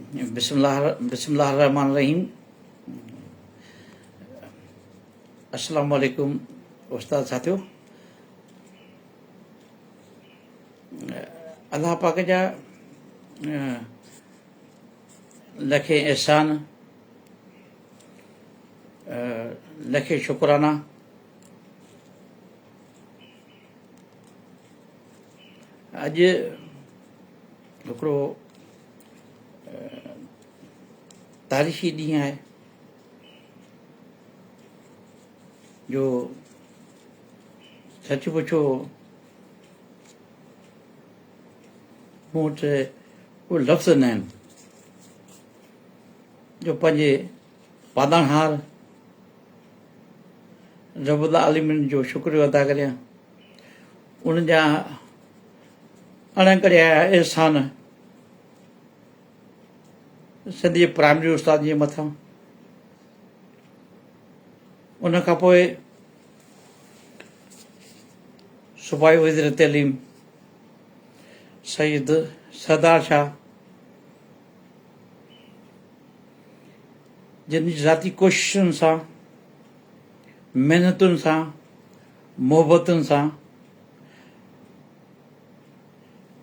بسم الله بسم الله الرحمن الرحيم السلام عليڪم استاد ساتھيو الله پاک جا لکي احسان لکي شڪرانا اڄ هڪڙو تاريخي ڏينهن آهي جو سچ پڇو مون وٽ ڪو لفظ نه آهن جو پنهنجي پالڻهار رب العالمين جو شڪريو ادا ڪريان ان جا اڻڪڙيا احسان سنڌي پرائمري استاد جي مٿان ان کان پوء صوبائي وزير تعليم سيد سردار شاهه جن ذاتي ڪوششن سان، محنتن سان، محبتن سان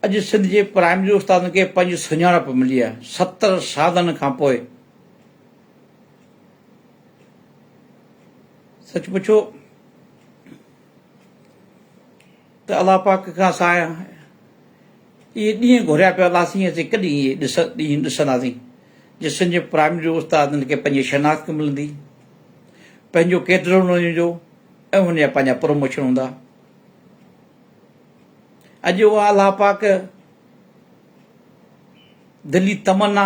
اڄ سنڌ جي پرائمري استادن کي پنهنجي سڃاڻپ ملي آهي ستر سالن کان پوء سچ پڇو ته الله پاڪ کان سايا اهي ڏينهن گهريا پيا الله سين اسين ڪڏهن اهي ڏينهن ڏسنداسين جسن جي پرائمري استادن کي پنهنجي شناخت ملندي پنهنجو ڪيڊر هوندو ۽ انهن جا پنهنجا پروموشن هوندا اڄ اها الله پاڪ دلي تمنا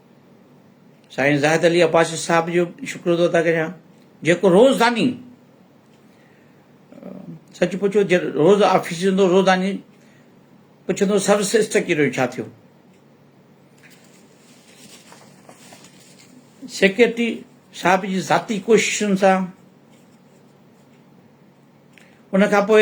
سائين زاهد علي عباسي صاحب جو شڪر ٿو ادا ڪريان جيڪو روزاني سچ پڇو جي روز آفيس ايندو روزاني پڇندو سر سسٽر ڪيرو ڇا ٿيو سيڪريٽري صاحب جي ذاتي ڪوششن سان ان کان پوء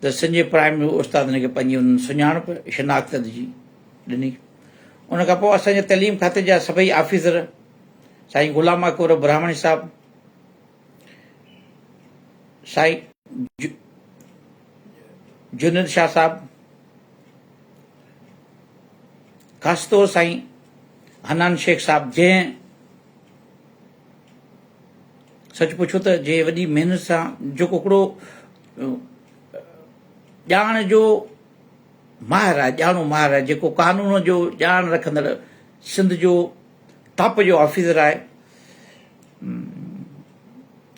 ته سنجي پرائم ۾ هو استاد هن کي پنهنجي انهن سڃاڻپ، شناخت، جي ڏني. ان کان پوء اسان جي تعليم کاتي جا سڀئي آفيسر، سائين غلام اڪبر براهمڻي صاحب، سائين جنيد شاهه صاحب، خاص طور سائين حنان شيخ صاحب جنهن سچ پڇو ته جي وڏي محنت سان جو ڪوڪڙو ڄاڻ جو ماهر آهي، ڄاڻو ماهر آهي، جيڪو قانون جو ڄاڻ رکندڙ سنڌ جو ٽاپ جو آفيسر آهي،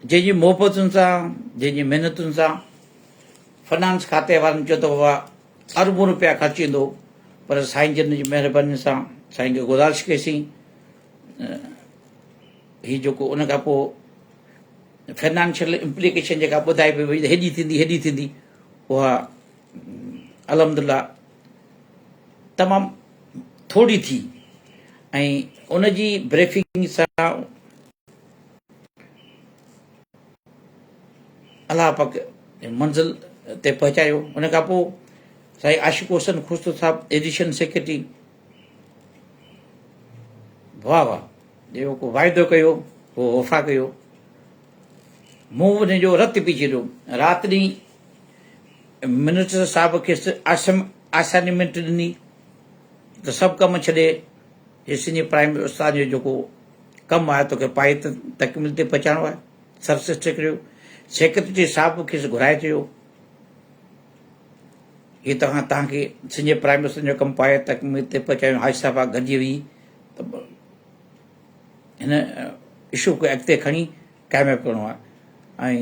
جنهن جي محبتن سان، جنهن جي محنتن سان فنانس کاتي وارن چيو ته بابا اربون روپيا خرچ ايندو پر سائين جن جي مهرباني سان سائين کي گذارش ڪئي سين هي جيڪو ان کان پوء فنانشل امپليڪيشن جيڪا ٻڌائي پئي وئي هيڏي ٿيندي هيڏي ٿيندي اها الحمد لله تمام ٿوري ٿي ۽ ان جي بريفنگ سان الله پاڪ منزل تي پهچايو ان کان پوء سائين عاشق حسن خوشتو صاحب ايڊيشن سيڪريٽري واھ واھ جيڪو ڪو واعدو ڪيو اهو وفا ڪيو مون ان جو رت پي ڇڏيو رات ڏينهن منسٽر صاحب کيس آسم آسائنمينٽ ڏني ته سڀ ڪم ڇڏي هي سنڌي پرائمري استاد جو جيڪو ڪم آهي توکي پائي تڪمل تي پهچائڻو آهي سب سيڪريٽري سيڪريٽري صاحب کيس گهرائي چيو هي توهان تهان کي سنڌ جي پرائم منسٽرن جو ڪم پايي تڪميل تي پهچايون حاجي صاحب آ گڏجي ويهي ته هن اشو کي اڳتي کڻي ڪامياب ڪرڻو آ ۽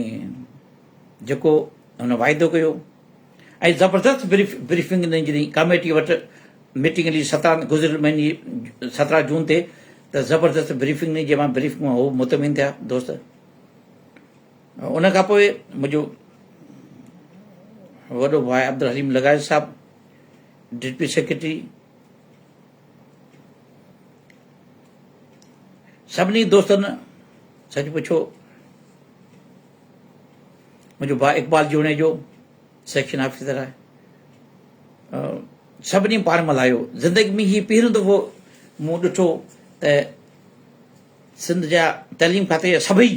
جيڪو هن واعدو ڪيو ۽ زبردست بريف بريفنگ ڏني جڏهن ڪاميٽي وٽ ميٽنگ هلي سترهن گذريل مهيني سترهن جون تي ته زبردست بريفنگ ڏني جنهن مان بريفنگ مان هو مطمئن ٿيا دوست ان کان پوء منهنجو وڏو ڀاء عبدالحليم لغاري صاحب ڊپٽي سيڪريٽري سڀني دوستن سچ پڇو منهنجو ڀاء اقبال جوڻي جو سيڪشن آفيسر آهي سڀني پاڻ ملهايو زندگي ۾ هي پهريون دفعو مون ڏٺو ته سنڌ جا تعليم کاتي جا سڀئي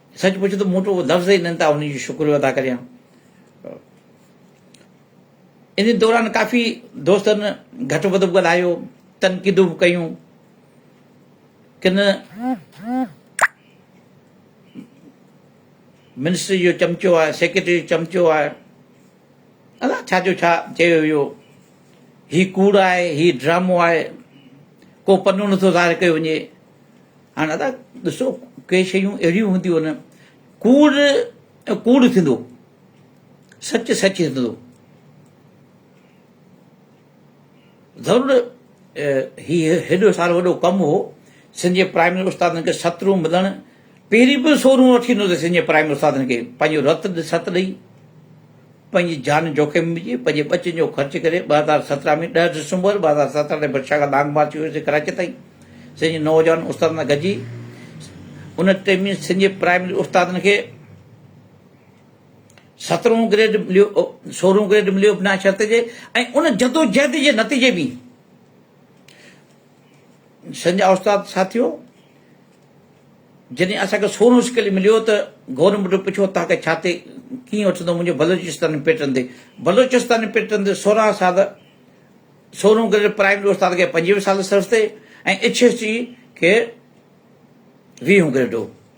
سچ پچ ته مون وٽ لفظ ئي ناهن ته انهن جو شڪريو ادا ڪريان. ان دوران ڪافي دوستن گهٽ وڌ به ڳالهايو، تنقيدون به ڪيون. ڪن منسٽري جو چمچو آهي، سيڪريٽري جو چمچو آهي. الله ڇا جو ڇا چيو ويو هي ڪوڙ آهي هي ڊرامو آهي ڪو پنو نٿو ظاهر ڪيو وڃي هاڻ ادا ڏسو ڪي شيون اهڙيون هونديون آهن ڪوڙ ڪوڙ ٿيندو سچ سچ ٿيندو ضرور هي هيڏو سارو وڏو ڪم هو. سنڌ جي پرائمري استادن کي ست رون ملڻ پهرين به سو رون وٺي ايندو هو ته سنڌ جي پرائمري استادن کي پنهنجو رت ست ڏئي پنهنجي جان جوکم ۾ وجهي پنهنجي ٻچن جو خرچ ڪري ٻه هزار سترهن ۾ ڏهه ڊسمبر ٻه هزار سترهن تي برشا کان لانگ مارچ ڪيو سي ڪراچي تائين سنڌ جي نوجوان استادن سان گڏجي ان ٽيم سنڌ جي پرائمري استادن کي سترهون گريڊ مليو سورهون گريڊ مليو ابنا شرط جي ۽ ان جدوجهد جي نتيجي ۾ سنجا استاد ساٿيو جڏهن اسان کي سورهون اسڪيل مليو ته گورنر مٽو پڇيو تان کي ڇا تي ڪيئن وٺندو منهنجو بلوچستان پيٽن تي بلوچستان پيٽن تي سورهن سال سورهون گريڊ پرائمري استاد کي پنجويهه سال سرس تي ۽ اچ ايس ٽي کي ويهون گريڊ هو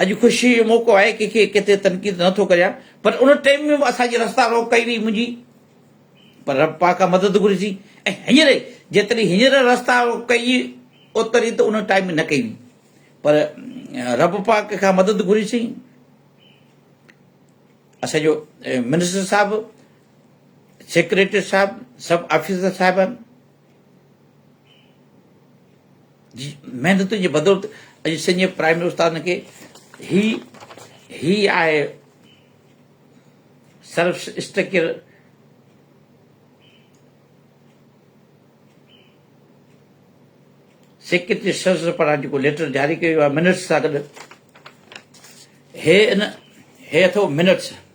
اڄ خوشيء جو موقعو آهي، ڪنهن کي ڪنهن تي تنقيد نه ٿو ڪريان، پر ان ٽيم ۾ به اسان جي رستا روڪ ڪئي وئي منهنجي، پر رب پاڪ کان مدد گهرجي ۽ هينئر جيتري هينئر رستا روڪ ڪئي اوتري ته ان ٽائيم ۾ نه ڪئي وئي، پر رب پاڪ کان مدد گهرجي اسان جو منسٽر صاحب، سيڪريٽري صاحب، سڀ آفيسر صاحبان، جي محنتن جي بدولت اڄ سنڌ پرائمري استادن کي هي هي آهي سرف اسٽرڪچر سيڪريٽري سرس پاران جيڪو ليٽر جاري ڪيو ويو آهي منٽس سان گڏ هي ان هي اٿو منٽس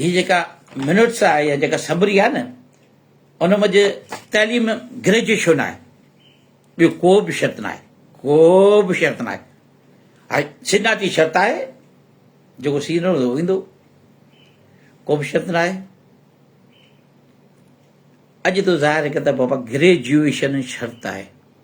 هي جيڪا منٽس آهي يا جيڪا سمري آهي نه ان منجھ تعليم گريجوئيشن آهي ٻيو ڪو به شرط نه آهي ڪو به شرط نه آهي هاي سينارٽي شرط آهي جيڪو سينو هو ويندو ڪو به شرط نه آهي اڄ تو ظاهر ڪتاب بابا گريجوئيشن شرط آهي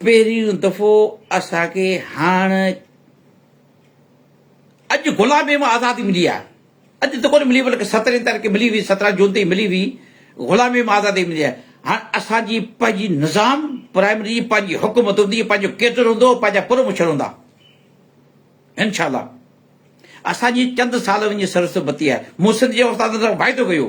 پهريون دفعو اسان کي هاڻ اڄ غلاميء مان آزادي ملي آهي. اڄ ته ڪونه ملي بلڪ سترهين تاريخ کي ملي هئي، سترهن جون تي ملي هئي، غلاميء مان آزادي ملي آهي. هاڻ اسان جي پنهنجي نظام پرائمري جي پنهنجي حڪومت هوندي، پنهنجو ڪيڊر هوندو، پنهنجا پروموشن هوندا. انشاء الله اسان جي چند سال وڃي سرسبتي آهي. مون سنڌ جي استادن سان واعدو ڪيو.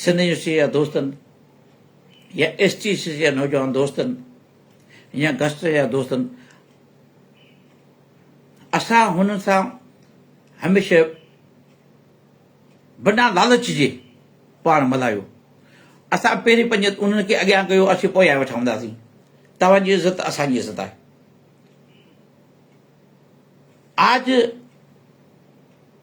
سنڌ يونيورسٽيء جا دوستن يا ايس ٽي سي جا نوجوان دوستن يا گسٽر جا دوستن اسان هن سان هميشه بنا لالچ جي پاڻ ملايو اسان پهرين پنج انهن کي اڳيان ڪيو اسين پويان ويٺا هونداسين توهان جي عزت اسان جي عزت آهي آج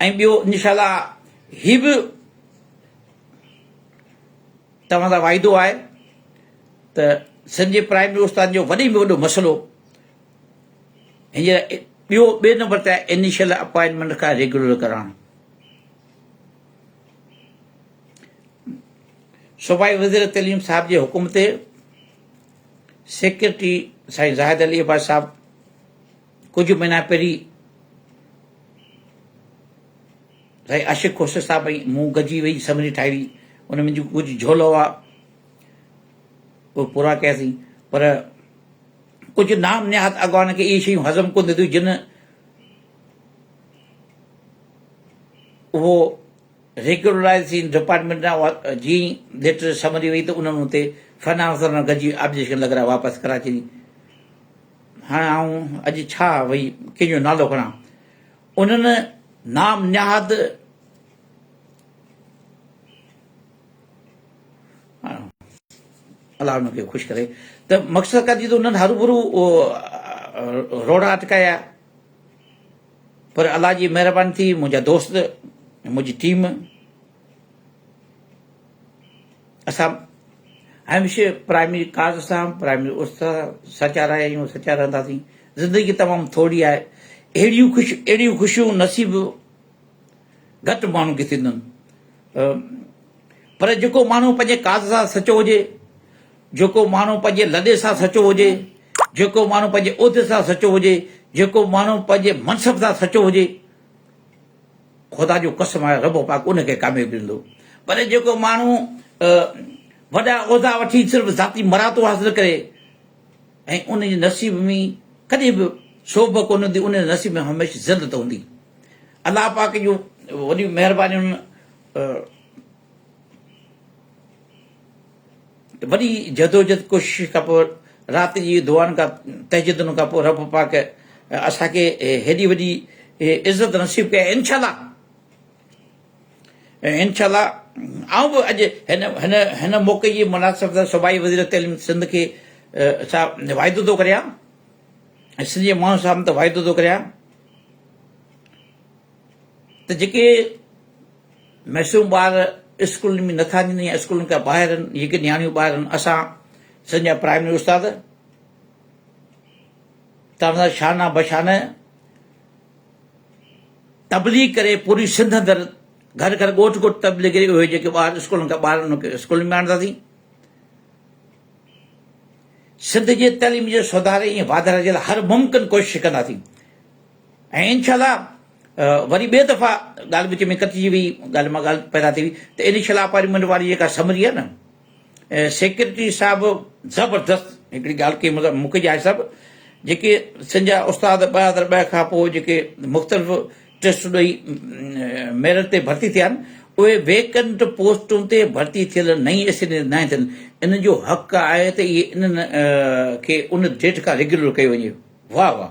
۽ ٻيو انشاء الله هي به توهان سان واعدو آهي ته سنڌ جي پرائمري استادن جو وڏي ۾ وڏو مسئلو هينئر ٻيو ٻئي نمبر تي آهي انيشل اپوائنٽمنٽ کان ريگيولر ڪرائڻ صوبائي وزير تعليم صاحب جي حڪم تي سيڪريٽري سائين زاهد علي عباس صاحب ڪجهه مهينا پهرين سائين عاشق کوسي صاحب ۽ مون گڏجي ويهي سمري ٺاهي هئي ان ۾ جيڪو ڪجهه جهول هئا اهي پورا ڪياسين پر ڪجهه نام نهاد اڳواڻن کي اهي شيون هضم ڪونه ٿيون جن اهو ريگولرائزيشن ڊپارٽمنٽ ڏانهن جي ليٽر سمري وئي ته انهن اتي فنانسر گڏجي آبجيڪشن لڳرائي واپس ڪراچي هاڻي آئون اڄ ڇا وئي ڪنهن جو نالو کڻان. انهن نام نهاد الله ان کي خوش ڪري ته مقصد ڪا جيتو انهن هروڀرو روڙا اٽڪايا پر الله جي مهرباني ٿي منهنجا دوست منهنجي ٽيم اسان هميشه پرائمري ڪاز سان پرائمري اس سان سچا رهيا آهيون سچا رهنداسين زندگي تمام ٿوري آهي اهڙيون خوش اهڙيون خوشيون نصيب گهٽ ماڻهن کي ٿيندن پر جيڪو ماڻهو پنهنجي ڪاز سان سچو هجي جيڪو ماڻهو پنهنجي لڏي سان سچو هجي جيڪو ماڻهو پنهنجي عهدي سان سچو هجي جيڪو ماڻهو پنهنجي منصب سان سچو هجي خدا جو قسم آهي رب پاڪ ان کي ڪاميابي ڏيندو پر جيڪو ماڻهو وڏا عهدا وٺي صرف ذاتي مراتو حاصل ڪري ۽ ان جي نصيب ۾ ڪڏهن به شوب ڪون هوندي ان جي نصيب ۾ هميشه ذلت هوندي الله پاڪ جو وڏي مهرباني وڏي جدوجھد ڪوشش کان پوء رات جي دعائن کان تهجدن کان پوء رب پاڪ اسان کي هيڏي وڏي عزت نصيب ڪئي انشاء الله انشاء الله آئون به اڄ هن هن هن موقعي جي مناسبت سان صوبائي وزير تعليم سنڌ کي سا واعدو ٿو ڪريان سنڌ جي ماڻهن سامهون ته واعدو ٿو ڪريان ته جيڪي معصوم ٻار اسڪولن ۾ نٿا وڃن يا اسڪولن کان ٻاهر آهن جيڪي نياڻيون ٻاهر آهن اسان سنڌ جا پرائمري استاد تاڻيدار شانه بشانه تبليغ ڪري پوري سنڌ اندر گھر گھر ڳوٺ ڳوٺ تبليغ ڪري اهي جيڪي ٻار اسڪولن کان ٻاهر انهن کي اسڪولن ۾ آڻنداسين سنڌ جي تعليم جي سڌاري ۽ واڌاري جي لاء هر ممڪن ڪوشش ڪنداسين ۽ انشاء الله وري ٻي دفعا ڳالهه وچ ۾ ڪٽجي وئي ڳالهه مان ڳالهه پيدا ٿي وئي ته انيشل اپائنٽمينٽ واري جيڪا سمري آهي نه سيڪريٽري صاحب زبردست هڪڙي ڳالهه ڪئي مطلب مونکي جاهي صاحب جيڪي سن جا استاد ٻه هزار ٻه کان پوء جيڪي مختلف ٽيسٽ ڏئي ميرٽ تي ڀرتي ٿيا آهن اهي ويڪنٽ پوسٽون تي ڀرتي ٿيل نئين اسينيز ناهي ٿين انهن جو حق آهي ته اهي انهن کي ان ڊيٽ کان ريگيولر ڪيو وڃي واهه واهه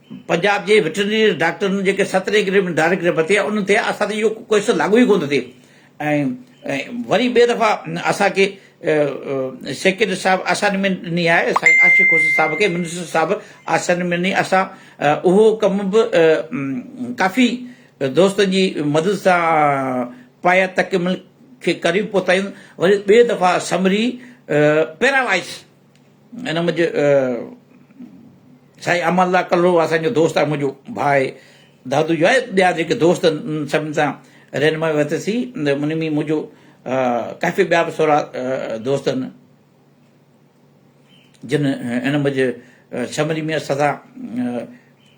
پنجاب جي وٽرنري ڊاڪٽرن جيڪي سترهن گريڊ ۾ ڊائريڪٽ رهبر ٿيا انهن تي اسان تي اهو ڪيس لاڳو ئي ڪونه ٿئي ۽ وري ٻئي دفعا اسان کي سيڪريٽري صاحب اسائنمينٽ ڏني آهي سائين عاشق حسين صاحب کي منسٽر صاحب اسائنمينٽ ڏني اسان اهو ڪم به ڪافي دوستن جي مدد سان پايا تڪمل کي قريب پهتايون وري ٻئي دفعا سمري پيراوائس ان منهنجي سائين امان الله ڪلهوڙو اسان جو دوست آهي منهنجو ڀاء آهي دادو جو آهي ٻيا جيڪي دوست ان سڀن سان رهنمائي ورتسي ان ۾ منهنجو ڪافي ٻيا به سورا دوست آهن جن ان منهنجي شملي ميان سدا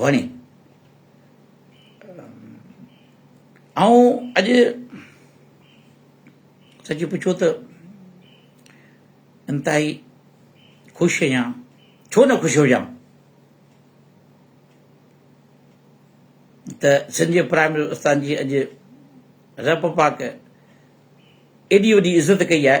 وڻي. آئون اڄ سچ پڇو ته انتهائي خوش آهيان ڇو نه خوش هجان ته سنڌ جي پرائم منسٽر استاد جي اڄ رب پاڪ ايڏي وڏي عزت ڪئي آهي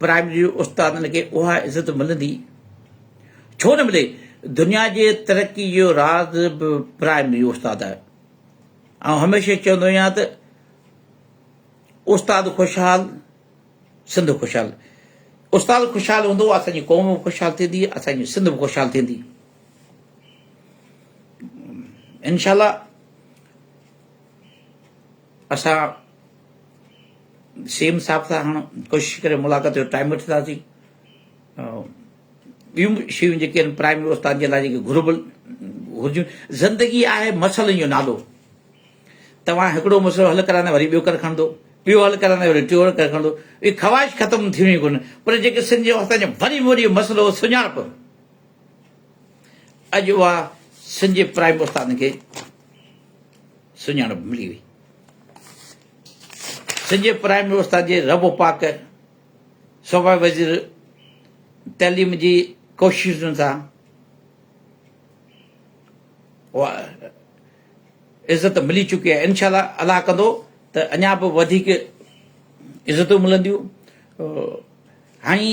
پرائمري استادن کي اها عزت ملندي ڇو نه ملي دنيا جي ترقي جو راز به پرائمري استاد آهي آئون هميشه چوندو آهيان ته استاد خوشحال سنڌ خوشحال استاد خوشحال هوندو اسانجي قوم به خوشحال ٿيندي اسانجي سنڌ به خوشحال ٿيندي انشاءالله اسان سي ايم صاحب سان هاڻ ڪوشش ڪري ملاقات جو ٽائيم وٺنداسين ٻيون به شيون جيڪي آهن پرائم استاد جي لاء جيڪي گهربل گهرجون زندگي آهي مسئلن جو نالو توهان هڪڙو مسئلو حل ڪرائيندا وري ٻيو ڪر کڻندو ٻيو حل ڪرائيندا وري ٽيو ڪر کڻندو هي خواهش ختم ٿي ويندي ڪونه پر جيڪي سنڌ جو اسان جو وڏي ۾ وڏي مسئلو سڃاڻپ اڄ اها سنڌ جي پرائم استادن کي سڃاڻپ ملي وئي. سنڌ جي پرائمري استاد جي رب و پاڪ سپر وزير تعليم جي ڪوششن سان عزت ملي چڪي آهي انشاء الله الله ڪندو ته اڃا به وڌيڪ عزتون ملنديون هاڻي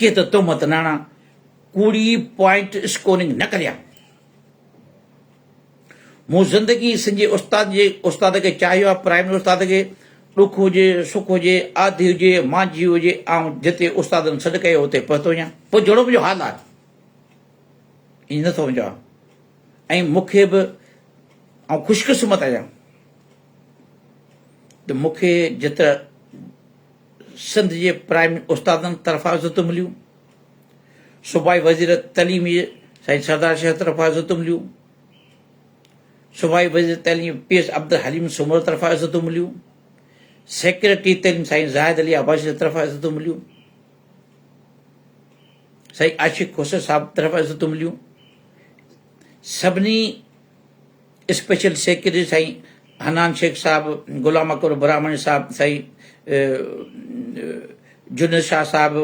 ڪي ته تهمت ناڻا ڪوڙي پوائنٽ اسڪورنگ نه ڪريا مون زندگي سنجي استاد جي استاد کي چاهيو آ پرائمري استاد کي ڏک هجي سک هجي آڌي هجي مانجهي هجي آئون جتي استادن سڏ ڪيو اتي پهتو هجان پوء جهڙو منهنجو حال آ ائين نه سمجهو آ ۽ مون کي به آئون خوشقسمت آهيان ته مون کي جت سنڌ جي پرائمري استادن طرفان عزتون مليون صوبائي وزير تعليمي سائين سردار شاهه طرفان عزتون مليون صوبائي وزير تعليم پي ايس عبدالحليم سومر طرفان عزتون مليون سيڪريٽري تعليم سائين زاهد علي عباسي جي طرفان عزتون مليون سائين عاشق خوسر صاحب طرفان عزتون مليون سڀني اسپيشل سيڪريٽري سائين حنان شيخ صاحب، غلام اڪبر براهمڻي صاحب، سائين جنيد شاهه صاحب،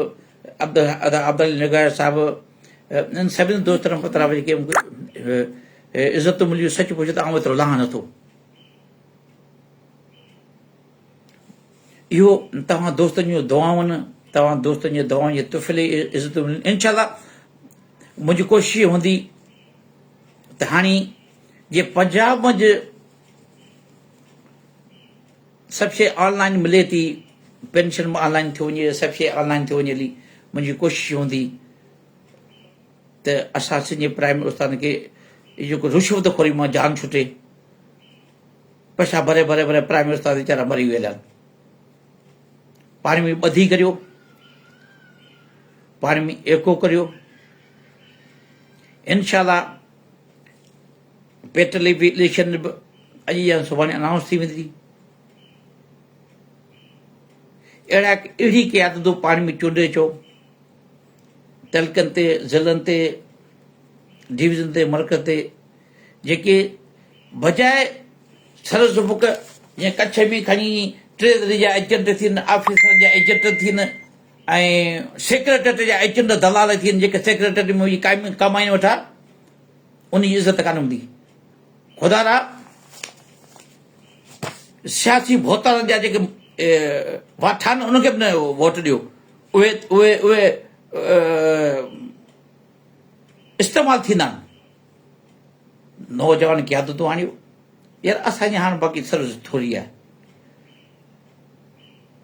عبدالعلي نگار صاحب انهن سڀني دوستن کان طرف جيڪي عزتون مليون سچ پچ ته آئون ايترو لهان نه ٿو. اهو توهان دوستن جون دعائون توهان دوستن جي دعائن جي تحفي لئي عزتون مليون انشاء الله منهنجي ڪوشش هوندي ته هاڻي جي پنجاب منجھ سڀ شيء آن لائن ملي ٿي پينشن به آن لائن ٿيو وڃي سڀ شيء آن لائن ٿيو وڃي هلي منهنجي ڪوشش هوندي ته اسان سنڌ جي پرائم استاد کي جيڪو رشوت خوري مان جان ڇٽي پيسا ڀري ڀري ڀري پرائم استاد ويچارا مري ويل آهن پاڻي ۾ ٻڌي ڪريو پاڻي ۾ ايڪو ڪريو انشاء الله پيٽ لي بي اليڪشن به اڄ يا سڀاڻي انائونس ٿي ويندي اهڙا اهڙي قيادتون پاڻ ۾ چونڊي اچو تعلقن تي ضلعن تي ڊويزن تي مرڪز تي جيڪي بجائے سر سبق جيئن ڪڇ ۾ کڻي ٽي ذري جا ايجنٽ ٿين آفيسر جا ايجنٽ ٿين ۽ سيڪريٽريٽ جا ايچ اينڊ دلال ٿي وڃن جيڪي سيڪريٽريٽ ۾ وڃي قائمين ڪمائين وٺا ان جي عزت ڪانه هوندي خدا را سياسي ڀوتارن جا جيڪي واٺا آهن انهن کي به ووٽ ڏيو اهي اهي اهي استعمال ٿيندا آهن نوجوان قيادتون آڻيو يار اسان جي هاڻ باقي سروس ٿوري آهي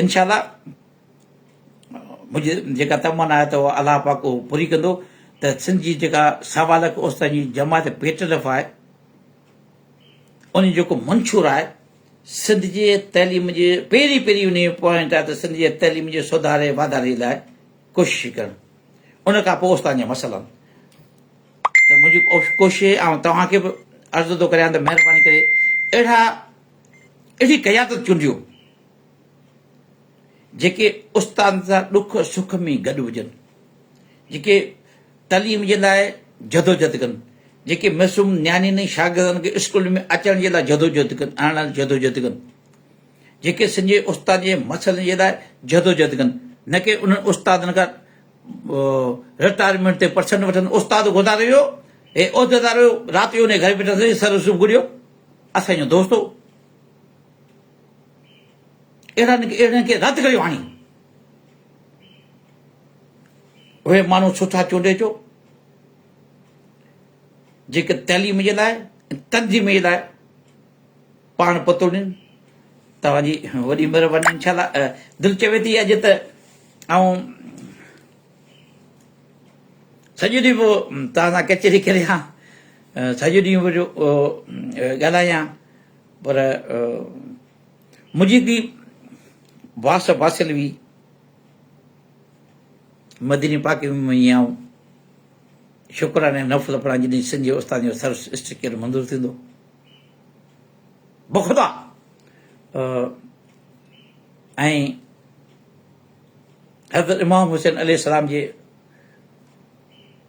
انشاء الله منهنجي جيڪا تمنا آهي ته اها الله پاڪ اهو پوري ڪندو ته سنڌ جي جيڪا سوا لک اوستا جي جماعت پي ٽي ايف آهي ان جو جيڪو منشور آهي سنڌ جي تعليم جي پهرين پهرين ان جو پوائنٽ آهي ته سنڌ جي تعليم جي سڌاري واڌاري لاء ڪوشش ڪرڻ ان کان پوء اوستا جا مسئلا ته منهنجي ڪوشش آئون توهانکي به عرض ٿو ڪريان ته مهرباني ڪري اهڙا اهڙي قيادت چونڊيو جيڪي استادن سان ڏک سک ۾ گڏ هجن، جيڪي تعليم جي لاء جدوجھد ڪن، جيڪي معصوم نياڻين ۽ شاگردن کي اسڪول ۾ اچڻ جي لاء جدوجھد ڪن، آڻڻ لاء جدوجھد ڪن، جيڪي سنجھي استادن جي مسئلن جي لاء جدوجھد ڪن، نه ڪي انهن استادن کان رٽائرمينٽ تي پرسنٽ وٺن، استاد گذاريو ويو، هي عهديدار هيو، رات جو انهيء گهر ۾ ويٺل هو، سر صبح گهڙيو، اسان جو دوست هو. اهڙن اهڙن کي رد ڪريو آڻي. اهي ماڻهو ڇو ٿا چونڊي جو جيڪي تعليم جي لاء تنظيم جي لاء پاڻ پتو ڏين توهان جي وڏي مهرباني انشاء الله دل چوي ٿي اڄ ته آئون سڄو ڏينهن پوء توهان سان ڪچهري ڪريان سڄو ڏينهن پوء ڳالهايان پر منهنجي ڌي واس واصل وي مديني پاڪ ۾ وڃي آئون شڪرانه نفل پڙهان جڏهن سنڌ جي استاد جو سر اسٽيڪر منظور ٿيندو بخدا ۽ حضرت امام حسين عليه السلام جي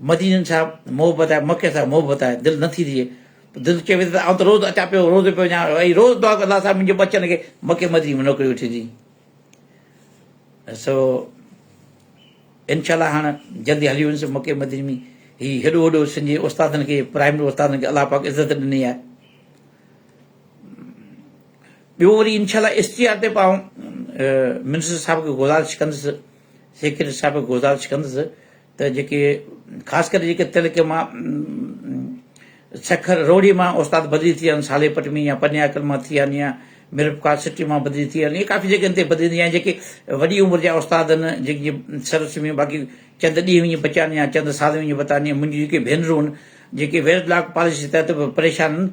مدينن سان محبت آهي مڪي سان محبت آهي دل نه ٿي ٿئي دل چوي ته آئون ته روز اچان پيو روز پيو وڃان ۽ روز دعا ڪندو الله صاحب منهنجي بچن کي مڪي مديني ۾ نوڪري وٺي ڏي سو انشاءالله هاڻ جلدي هلي ويندس مڪي مديني ۾ هي هيڏو وڏو سن جي استادن کي پرائمري استادن کي الله پاڪ عزت ڏني آهي ٻيو وري انشاءالله اشتهار تي پاون منسٽر صاحب کي گزارش ڪندس سيڪريٽري صاحب کي گذارش ڪندس ته جيڪي خاص ڪري جيڪي تعلقي مان سکر روهڙي مان استاد بدلي ٿي ويا آهن سالي پٽ ۾ يا پني عقل مان ٿي ويا آهن يا ميرپورخاص سٽي مان بدلي ٿي ويا آهن ائين ڪافي جڳهين تي بدلي ٿي ويا آهن جيڪي وڏي عمر جا استاد آهن جيڪي سروس ۾ باقي چند ڏينهن وڃي بچيا آهن يا چند سال وڃي بتا آهن منهنجي جيڪي ڀينرون آهن جيڪي ويرڊ لاڪ پاليسي تحت به پريشان آهن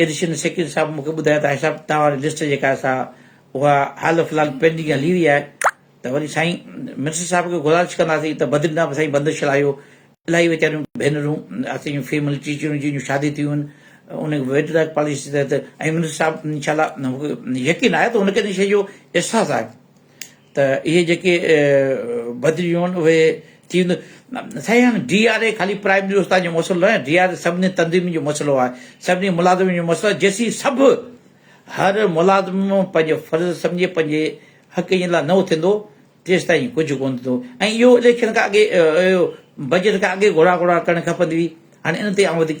ايڊيشن سيڪريٽري صاحب مون کي ٻڌايو ته هاشم صاحب توهان واري لسٽ جيڪا آهي سا اها حال فلحال پينڊنگ هلي رهي آهي ته وري سائين منسٽر صاحب کي گذارش ڪنداسين ته بدرينا به سائين بندش هلايو الاهي ويچاريون ڀينرون اسين فيمل ٽيچرون جن جون شادي ٿيون آهن ان ويٽ لاء پاليسي تحت ۽ منسٽر صاحب انشاء الله يقين آهي ته هن کي ان شيء جو احساس آهي ته اهي جيڪي بدليون آهن اهي ٿي وينديون سائين هاڻي ڊي آر اي خالي پرائم منسٽر استاد جو مسئلو ناهي ڊي آر اي سڀني تنظيمن جو مسئلو آهي سڀني ملازمن جو مسئلو آهي جيسين سڀ هر ملازم پنهنجو فرض سمجهي پنهنجي حق جي لاء نه اٿندو تيستائين ڪجهه ڪونه ٿيندو ۽ اهو اليڪشن کان اڳي بجيٽ کان اڳي گهوڙا گهوڙا ڪرڻ کپندي هئي هاڻي ان تي آئون وڌيڪ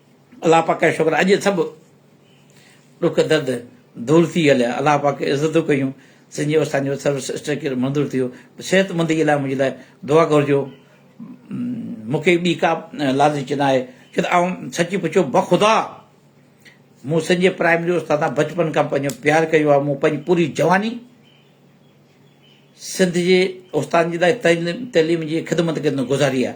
الله پاڪ جا شڪر اڄ سڀ ڏک درد دور ٿي هليا الله پاڪ عزتون ڪيون سنجي وسان جو سروس اسٽرڪچر منظور ٿيو صحت مندي لاء منهنجي لاء دعا گهرجو مونکي ٻي ڪا لالچ نه آهي ڇو ته آئون سچي پڇو بخدا مون سنجي پرائمري استاد بچپن کان پنهنجو پيار ڪيو آهي مون پنهنجي پوري جواني سنڌ جي استاد جي لاء تعليم جي خدمت ڪندو گذاري آهي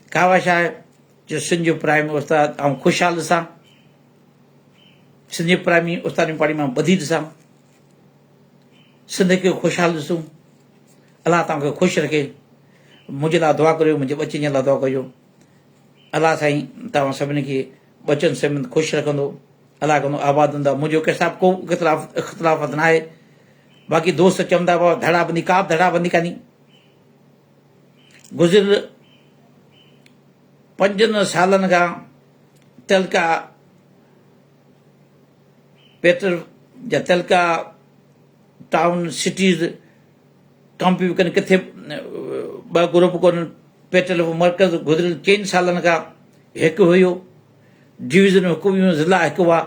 خواهش آهي جو سنڌ جو پرائمري استاد آئون خوشحال ڏسان، سنڌ جي پرائمري استادي پاڙي مان ٻڌي ڏسان، سنڌ کي خوشحال ڏسون، الله توهان کي خوش رکي، منهنجي لاء دعا ڪريو منهنجي ٻچن جي لاء دعا ڪجو، الله سائين توهان سڀني کي ٻچن سميت خوش رکندو، الله ڪندو آباد هوندا، منهنجو ڪنهن سان ڪو اختلاف اختلافات ناهي، باقي دوست چوندا هئا ڌڙا بندي ڪا به ڌڙا بندي ڪاني، گذريل پنجن سالن کان تعلقه پيٽر جا تعلقه ٽائون سٽيز ڪامپيو ڪن ڪٿي ٻه گروپ ڪون پيٽل مرڪز گذريل چئن سالن کان هڪ هيو ڊويزن هڪ هيون ضلع هڪ هئا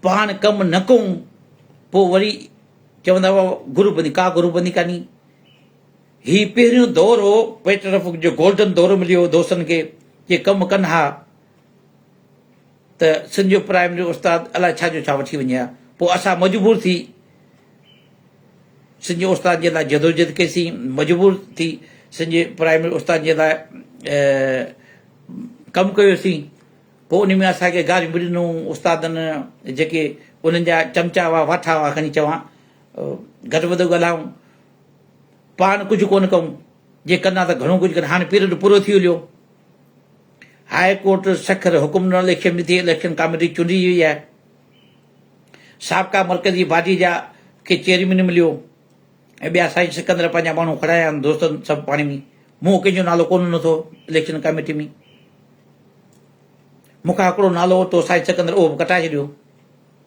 پاڻ ڪم نه ڪون پوء وري چوندا هئا گروپ بندي ڪا گروپ بندي ڪاني هي پهريون دور هو پيٽرفڪ جو گولڊن دور مليو هو دوستن کي جي ڪم ڪن ها ته سنڌ جو پرائمري استاد الاء ڇا جو ڇا وٺي وڃي ها پوء اسان مجبور ٿي سنڌ جو استاد جي لاء جدوجهد ڪيسين مجبور ٿي سنڌ جي پرائمري استاد جي لاء ڪم ڪيوسين پوء ان ۾ اسان کي گاريون به ڏنو استادن جيڪي انهن جا چمچا هئا واٺا هئا کڻي چوان گهٽ وڌ ڳالهائون، پاڻ ڪجهه ڪونه ڪئون، جي ڪندا ته گهڻو ڪجهه ڪن، هاڻي پيرڊ پورو ٿي هليو، هاء ڪورٽ سکر حڪم ڏنو اليڪشن به ٿئي، اليڪشن ڪاميٽي چونڊجي وئي آهي، سابقا مرڪزي باڊي جا کي چيئرمين مليو ۽ ٻيا سائين سڪندر پنهنجا ماڻهو کڙايا آهن دوستن سڀ پاڻي ۾ مون ڪنهن جو نالو ڪونه ڏنو اٿو اليڪشن ڪاميٽي ۾ مون کان هڪڙو نالو ورتو سائين سڪندر اهو به ڪٽائي ڇڏيو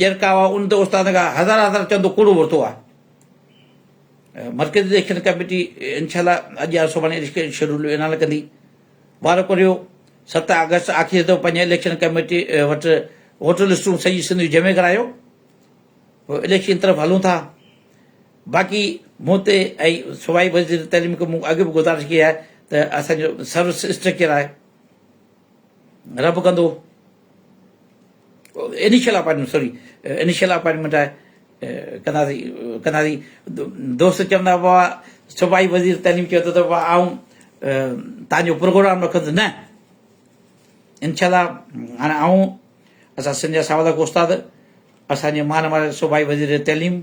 ڄرڪا هئا ان تي استاد کان هزار هزار چندو ڪوڙو ورتو آهي مرڪزي اليڪشن ڪميٽي انشاء الله اڄ يا سڀاڻي اليڪشن شيڊول اعلان ڪندي وارو ڪريو ست آگسٽ آخري دفعو پنهنجي اليڪشن ڪميٽي وٽ ووٽر لسٽون سڄي سنڌ جون جمع ڪرايو پوء اليڪشن طرف هلون ٿا باقي مون تي ۽ صوبائي وزير تعليم کي مون اڳ به گزارش ڪئي آهي ته اسانجو سروس اسٽرڪچر آهي رب ڪندو initial appointment sorry initial appointment آهي ڪنداسي ڪنداسي دوست چوندا بابا صوبائي وزير تعليم چيو ته بابا آئون تان جو پروگرام رکندس نه انشاء الله هاڻي آئون اسان سنجا ساولا استاد اسان جي مان واري صوبائي وزير تعليم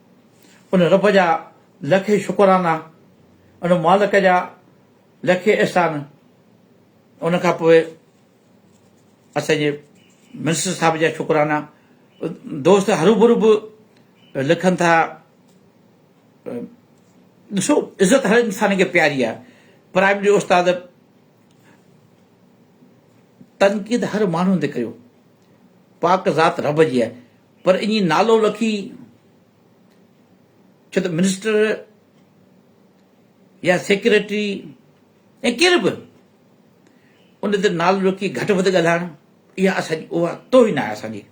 ان رب جا لکين شڪرانا، ان مالڪ جا لکين احسان، ان کان پوء اسان جي منسٽر صاحب جا شڪرانا، دوست هروڀرو به لکن ٿا، ڏسو عزت هر انسان کي پياري آهي، پرائمري استاد تنقيد هر ماڻهو تي ڪيو، پاڪ ذات رب جي آهي، پر اڃي نالو لکي ڇو ته منسٽر يا سيڪريٽري يا ڪير به ان تي نالو لکي گهٽ وڌ ڳالهائڻ اها اسان اها توهين آهي اسان جي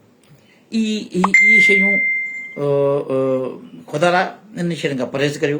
اهي شيون خدا لاء ان شين کان پرهيز ڪريو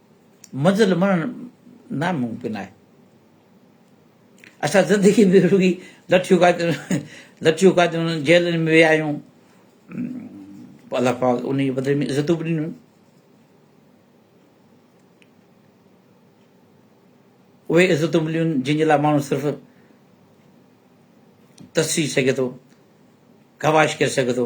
منزل مڃڻ ناممڪن آهي. اسان زندگي ۾ رڳي لٺيون کاڌيون، جيلن ۾ ويا آهيون، پوء الله پاڪ انهيء جي بدلي ۾ عزتون به ڏنيون. اهي عزتون مليون جن جي لاء ماڻهو صرف ترسي سگهي ٿو، خواهش ڪري سگهي ٿو.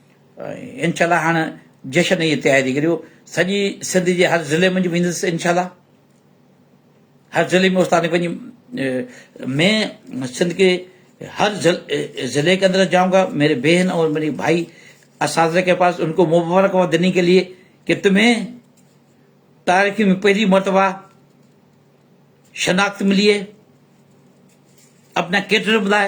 انشاء الله هاڻ جشن جي تياري ڪريو سڄي سنڌ جي هر ضلعي منجھ ويندس انشاء الله هر ضلعي ۾ استاد پنهنجي مين سنڌ کي هر ضلعي کي اندر جاؤں گا ميري بهن اور ميري ڀائي اساتذه کي پاس ان کي مبارڪ هو دني کي لئي کي تمهين تاريخ ۾ پهري مرتبه شناخت ملي اپنا ڪيٽر بلاي